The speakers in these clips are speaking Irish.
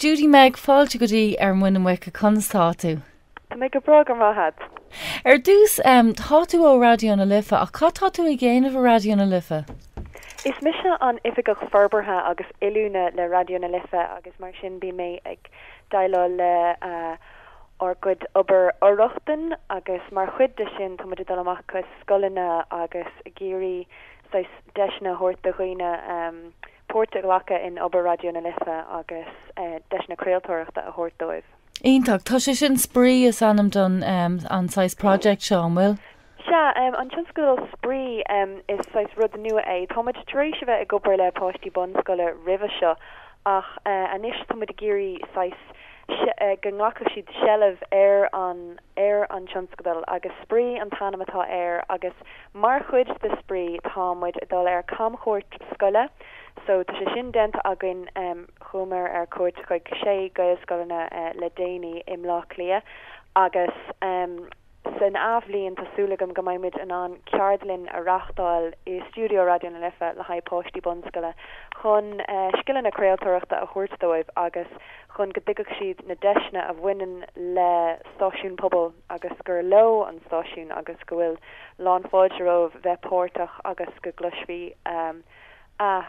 Judy Meg, Fáilte go dtí Ar Mhuin na Muice, conas tá tú? Tá mé go breá, go raibh maith agat. Ar dtús, tá tú ó Raidió na Life, ach cad tá tú ag dhéanamh i Raidió na Life? Is mise an Oifigeach Forbartha agus Oiliúna le Raidió na Life agus mar sin bím ag déileáil le ár gcuid obair fhor-rochtain agus mar chuid de sin tá muid ag dul amach chuig scoileanna agus ag iarraidh saghas deiseanna a thabhairt do dhaoine páirt a ghlacadh in obair Raidió na Life agus deiseanna craoltóireachta a thabhairt dóibh. Iontach. Tá sé sin, Spraoi is ainm don an saghas project seo, an bhfuil? Sea, an tionscadal Spraoi, is saghas rud nua é. Táimid tar éis a bheith ag obair le páistí bunscoile roimhe seo ach anois táimid ag iarraidh saghas go nglacfadh siad seilbh ar an, ar an tionscadal agus Spraoi an t-ainm atá air agus Mar chuid de spraoi tá muid ag dul ar camchuairt scoile so tá sé sin déanta againn. Chuamar ar cuairt chuig sé Gaelscoileanna le déanaí i mBlá Cliath agus san athbhliain tá súil agam go mbeidh muid in ann ceardlann a reáchtáil i stiúideo Raidió na Life le haghaidh páistí bunscoile chun scileanna craoltóireachta a thabhairt dóibh agus chun go dtuigfeadh siad na deiseanna a bhaineann le stáisiún pobail agus gur leo an stáisiún agus go bhfuil lán fáilte rompu bheith páirteach agus go gcloisfí a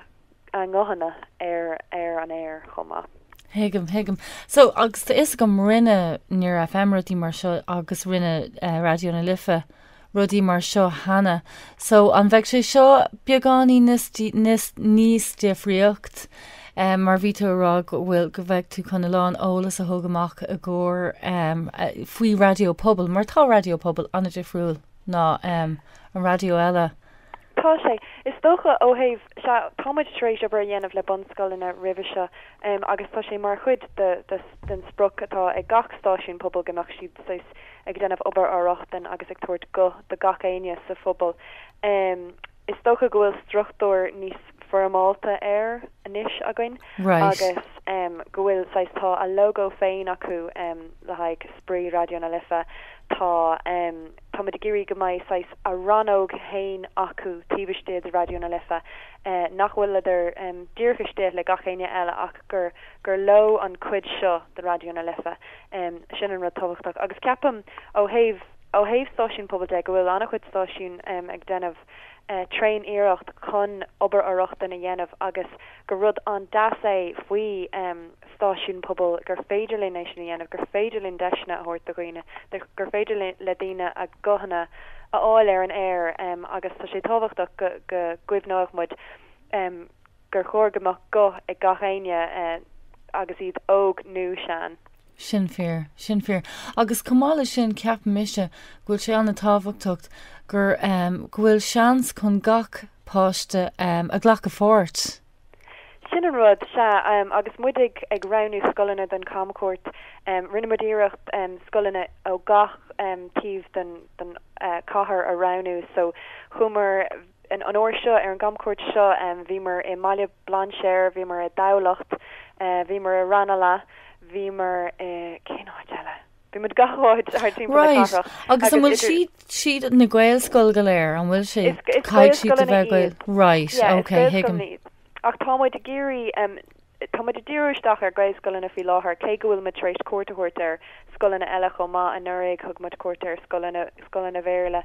a nguthanna ar ar an aer chomh maith. Tuigim, tuigim. So, agus tá fhios agam rinne Near FM rudaí mar seo agus rinne Raidió na Life rudaí mar seo cheana. So, an bheidh sé seo beagáinín níos níos difríocht? em mar bhí tú a rá go bhfuil go bheidh tú chun a lán eolas a thug amach i gcomhair em faoi raidió pobail mar tá raidió pobail an difriúil ná em an raidió eile Tá sé. Is dócha ó thaobh, sea, tá muid tar éis obair a dhéanamh le bunscoileanna roimhe seo em agus tá sé mar chuid de, de, den sprioc atá ag gach stáisiún pobail go mbeadh siad saghas ag déanamh obair fhor-rochtain agus ag tabhairt guth do gach éinne sa phobal em Is dócha go bhfuil struchtúr níos foirmeálta air anois againn Right. agus go bhfuil saghas, tá a logo féin acu le haghaidh spraoi Raidió na Life. Tá, táimid ag iarraidh go mbeidh saghas a rannóg féin acu taobh istigh de Raidió na Life nach bhfuil siad díreach istigh le gach éinne eile ach gur, gur leo an chuid seo de Raidió na Life. Sin an rud tábhachtach agus ceapaim ó thaobh. Ó thaobh stáisiún pobail de, go bhfuil an-chuid stáisiún ag déanamh tréan iarracht chun obair fhor-rochtain a dhéanamh agus gur rud an-deas é faoi stáisiún pobail gur féidir linn é sin a dhéanamh, gur féidir linn deiseanna a thabhairt do dhaoine, gur féidir le daoine a guthanna a fháil ar an aer agus tá sé tábhachtach go gcuimhneodh muid ar gur chóir go mbeadh guth ag gach éinne agus iad óg nó sean. Sin fíor. Sin fíor. Agus chomh maith leis sin ceapaim mise go bhfuil sé an-tábhachtacht gur, em, go bhfuil seans chun gach páiste, em, a ghlacadh pháirt. Sin an rud, sea. Em, agus muid ag, ag roghnú scoileanna don chamchuairt, em, rinne muid iarracht, em, scoileanna ó gach, em, taobh den, den cathair a roghnú. So, chuamar. An uair seo, ar an gcamchuairt seo, bhíomar i mBaile Bhlainséir, bhíomar i dTamhlacht, bhíomar i Ranelagh, bhíomar i, cén áit eile? Bhí muid gach áit thar timpeall na cathrach agus idir. Right, agus an bhfuil siad, siad na Gaelscoil go léir, an bhfuil siad? Is Gaelscoileanna iad. Right, ok, thuigim. Is Gaelscoileanna iad. Ach tá muid ag iarraidh Táimid ag díriú isteach ar Ghaelscoileanna faoi láthair, cé go bhfuil muid tar éis cuairt a thabhairt ar scoileanna eile chomh maith. Anuraidh, thug muid cuairt ar scoileanna, scoileanna Béarla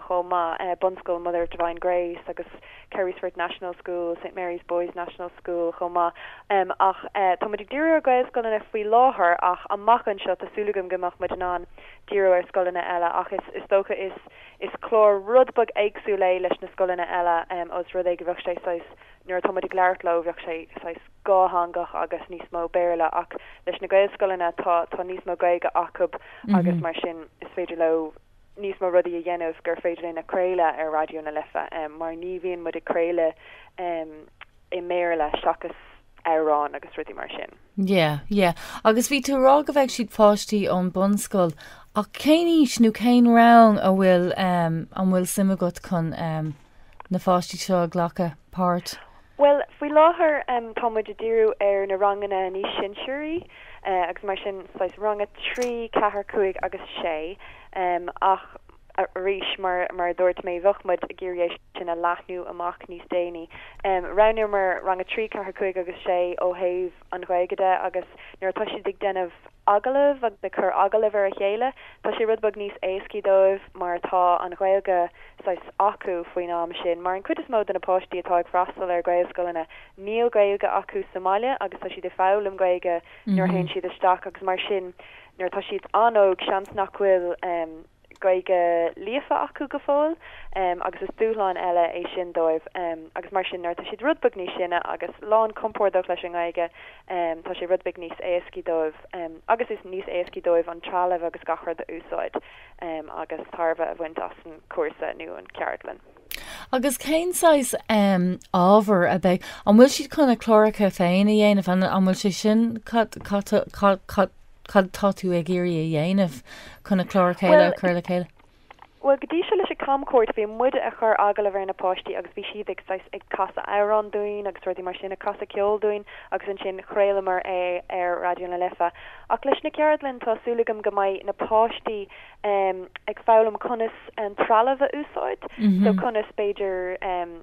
chomh maith, bunscoil Mother of Divine Grace agus Carysfort National School, Saint Mary's Boys National School chomh maith. Ach tá muid ag díriú ar Ghaelscoileanna faoi láthair ach amach anseo tá súil agam go mbeidh muid in ann díriú ar scoileanna eile ach is dócha is clár rud beag éagsúil é leis na scoileanna eile os rud é go bheadh sé saghas Nuair atá muid ag labhairt leo, bheadh sé saghas dhátheangach agus níos mó Béarla, ach leis na Gaelscoileanna, tá tá níos mó Gaeilge acub agus mar sin is féidir leo níos mó rudaí a dhéanamh gur féidir linn a chraoladh ar Raidió na Life, mar ní bhíonn muid ag craoladh i mBéarla seachas amhráin agus rudaí mar sin. Yeah, yeah. Agus bhí tú a rá go bheidh siad páistí ón bunscoil, ach cén aois nó cén rang an bhfuil ehm an bhfuil suim agat chun ehm, na pháistí seo ag glacadh páirt? Bhuel, faoi láthair tá muid ag díriú ar na ranganna níos sinsearaí agus mar sin, saghas rang a trí, ceathair, cúig agus sé. Ach arís, mar a dúirt mé, bheadh muid ag iarraidh é sin a leathnú amach níos déanaí. Roghnaíomar rang a trí, ceathair, cúig agus sé ó thaobh an Ghaeilge de agus nuair atá siad ag déanamh. agallamh agus ag cur agallamh ar a chéile. Tá sé rud beag níos éascaí dóibh mar tá an Ghaeilge saghas acu faoin am sin, mar an cuid is mó de na páistí atá ag freastal ar Ghaelscoileanna níl Gaeilge acu sa mbaile agus tá siad ag foghlaim Gaeilge nuair a théann siad isteach agus mar sin nuair atá siad an-óg seans nach bhfuil Gaeilge líofa acu go fóill agus is dúshlán eile é sin dóibh agus mar sin nuair atá siad rud beag níos sine agus lán compórdach leis an nGaeilge tá sé rud beag níos éascaí dóibh agus níos éascaí dóibh an trealamh agus gach rud a úsáid agus tairbhe a bhaint as an cúrsa nó an cheardlann. Agus cén saghas ábhar a bheidh, an bhfuil siad chun a cláracha féin a dhéanamh, an bhfuil sé sin, cad atá tú ag iarraidh a dhéanamh chun a chlár a chéile, a chur le chéile? Bhuel, go dtí seo leis an gcamchuairt bhí muide ag cur agallamh ar na páistí agus bhí siad ag saghas, ag casadh amhrán dúinn agus rudaí mar sin, ag casadh ceol dúinn agus ansin chraolamar é ar Raidió na Life. Ach leis na ceardlainn tá súil agam go mbeidh na páistí em ag foghlaim conas an trealamh a úsáid so conas b'fhéidir em.